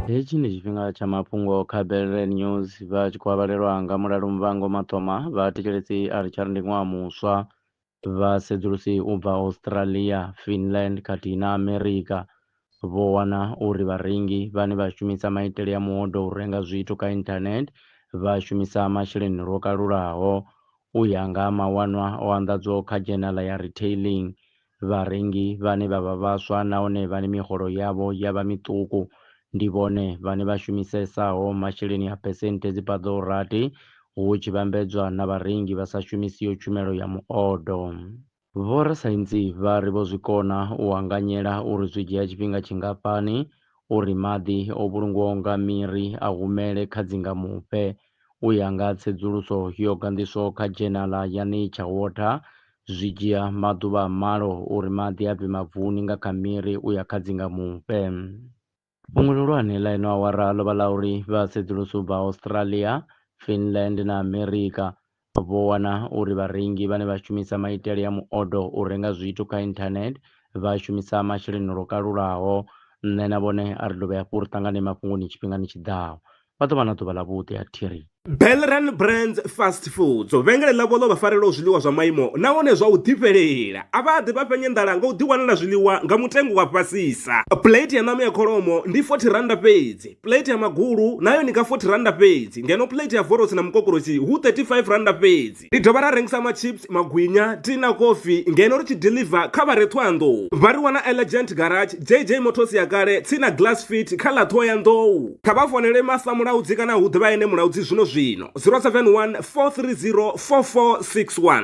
Hetshi ndi tshifhinga tsha mafhungo kha Bellre News vha tshi khou avhalelwa nga mulalo Muvhango Maṱoma, vha thetshelesi a ri tshari ndi ṅwaha muswa, vha sedzulusi u bva Australia, Finland khathihi na America vho wana uri vharengi vhane vha shumisa maitele a muhodo u renga zwithu kha internet vha shumisa masheleni lwo kalulaho. U ya nga ha mawanwa o anḓadzwaho kha dzhenala ya Retailing, Vharengi vhane vha vha vhaswa nahone vhane miholo yavho ya vha miṱuku ndi vhone vhane vha shumisesaho masheleni a phesenthe dzi paḓaho rathi hu tshi vhambedzwa na vharengi vha sa shumisiho tshumelo ya muodo. Vhorasaintsi vha ri vho zwi kona u anganyela uri zwi dzhia tshifhinga tshingafhani uri maḓi o vhulungwaho nga miri a humele kha dzingamufhe. U ya nga tsedzuluso yo ganḓiswaho kha dzhenala ya Nature Water, zwi dzhia maḓuvha a malo uri maḓi a bve mavuni nga kha miri u ya kha dzingamufhe. Fhungo ḽihulwane ḽa ino awara ḽo vha ḽa uri vhasedzulusi u bva Australia, Finland na Amerika Vho wana uri vharengi vhane vha shumisa maitele a muodo u renga zwithu kha inthanethe vha shumisa masheleni lwo kalulaho. Nṋe na vhone a ri dovhe hafhu ri ṱangane mafhungoni tshifhingani tshi ḓaho. Vha ḓo vha na ḓuvha ḽavhuḓi. A thi ri. Belran Brands Fast Foods, vhengele ḽavho ḽo vha farelaho zwiḽiwa zwa maimo nahone zwa u ḓifhelela. A vha ḓi vha fhenya nḓala nga u ḓiwanela zwiḽiwa nga mutengo wa fhasisa. Pulate ya ṋama ya kholomo ndi R40 fhedzi. Plate ya magulu nayo ni ka 40 randa fhedzi ngeno plate ya vorosi na mukokorosi hu 35 randa fhedzi. Ri dovha ra rengisa machips, magwinya, tea na kofi ngeno ri tshi deliver kha vha re Thohoyandou. Vha ri wana Elegant Garage, JJ Motors ya kale, tsini na Glass Fit kha ḽa Thohoyandou. Kha vha founele Master Mulaudzi kana hu ḓe vha ene Mulaudzi zwino zwino, 071 430 4461.